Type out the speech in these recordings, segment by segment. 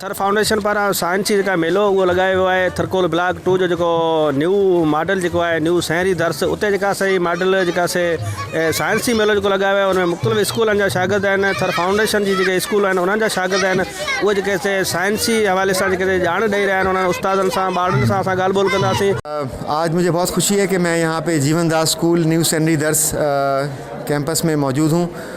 Thar foundation پاران science جي جيڪا ميلو اهو لڳايو ويو آهي ٿرڪول بلاڪ ٽو جو جيڪو نيو ماڊل جيڪو آهي نيو سهري درس اتي جيڪا سي ماڊل جيڪا سي سائنس جي ميلو جيڪو لڳايو ويو آهي ان ۾ مختلف اسڪولن جا شاگرد آهن ٿر فائونڊيشن جي جيڪي اسڪول آهن انهن جا شاگرد آهن اهو جيڪي سي سائنس جي حوالي سان جيڪي ڄاڻ ڏئي رهيا آهن انهن استادن سان ٻارڙن سان اسان ڳالهه ٻولهه ڪنداسين. آج مجھے بہت خوشي هي ڪي مين يهان پي جيون داس اسڪول نيو سهري درس ڪيمپس ۾ موجود هون.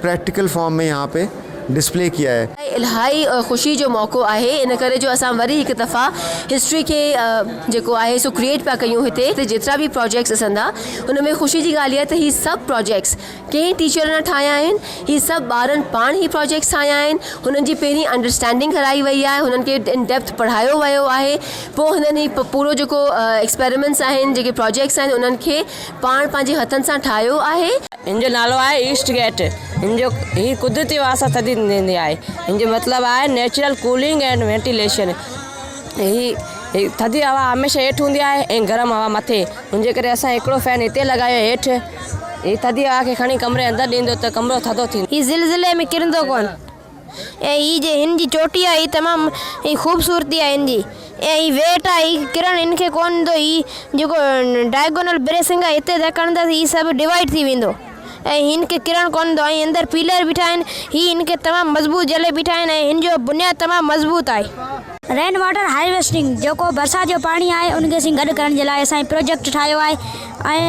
پريڪٽيڪل فارم ۾ يهان پي ڊسپلي ڪيا هي. اهو الهائي خوشي جو موقعو آهي ان ڪري جو اسان وري هڪ دفعا هسٽري کي جيڪو آهي سو ڪريئيٽ پيا ڪيون هتي هتي جيترا به پراجيڪٽس ڏسندا ان ۾ خوشي جي ڳالهه اها ته هي سڀ پراجيڪٽس ڪنهن ٽيچر نه ٺاهيا آهن هي سڀ ٻارن پاڻ هي پراجيڪٽس ٺاهيا آهن هنن جي پهرين انڊرسٽينڊنگ ڪرائي وئي آهي هنن کي ان ڊيپٿ پڙهايو ويو آهي پوء هنن هي پورو جيڪو ايڪسپيريمينٽس آهن جيڪي پراجيڪٽس آهن انهن کي پاڻ پنهنجي هٿن سان ٺاهيو آهي هن جو نالو آهي ايسٽ گيٽ هن جو هي قدرتي واسطا ٿڌي ٿيندي آهي هن جو مطلب آهي نيچرل ڪولنگ اينڊ وينٽيليشن هي ٿڌي هوا هميشه هيٺ هوندي آهي ۽ گرم هوا مٿي ان جي ڪري اسان هڪڙو فين هتي لڳايو هيٺ هي ٿڌي هوا کي کڻي ڪمري اندر ڏيندو ته ڪمرو ٿڌو ٿيندو. هي زلزلي ۾ ڪرندو ڪونه. اي هي جي هن جي چوٽي آ هي تمام هي خوبصورتي آ هن جي اي هي ويٽ آ هي ڪرڻ هن کي ڪون ايندو هي جيڪو ڊائگونل بريسنگ آ هتي ته ڪڻدا سي هي سڀ ڊوائيڊ ٿي ويندو اي هن کي ڪرڻ ڪون ايندو ۽ اندر پيلر بيٺا آهن هي هن کي تمام مضبوط جهلي بيٺا آهن ۽ هن جو بنياد تمام مضبوط آهي. رين واٽر هارويسٽنگ جيڪو برسات جو پاڻي آهي ان کي اسين گڏ ڪرڻ جي لاء اسان هي پروجيڪٽ ٺاهيو آهي. ۽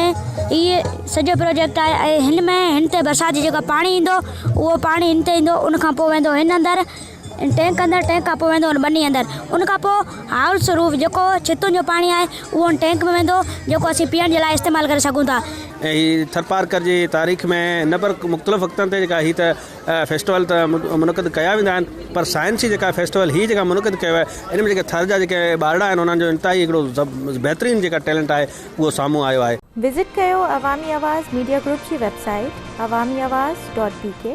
هي سڄو پروجيڪٽ آهي ۽ هن ۾ هن تي برسات جي جيڪو پاڻي ايندو اهو پاڻي هن تي ايندو ان کان پوء ويندو هن اندر ٽينڪ اندر ٽينڪ کان پوء ويندو هن ٻني اندر ان کان پوء هاول سروف جيڪو ڇتن جو پاڻي آهي اهو هن ٽينڪ ۾ ويندو جيڪو اسين پيئڻ جي لاء استعمال ڪري سگهون ٿا ۽ هي ٿرپارڪر جي تاريخ ۾ نه پر مختلف وقتن تي جيڪا هي ته فيسٽيول ته منعقد ڪيا ويندا آهن پر سائنسي جيڪا فيسٽيول هي جيڪا منعقد ڪيو آهي ان ۾ جيڪا ٿر جا جيڪا ٻارڙا آهن انهن جو انتهائي هڪڙو بهترين جيڪا ٽيلنٽ آهي اهو سامهون آيو آهي. وزٽ ڪيو عوامي آواز ميڊيا گروپ جي website Awami Awaz dot بي ڪي.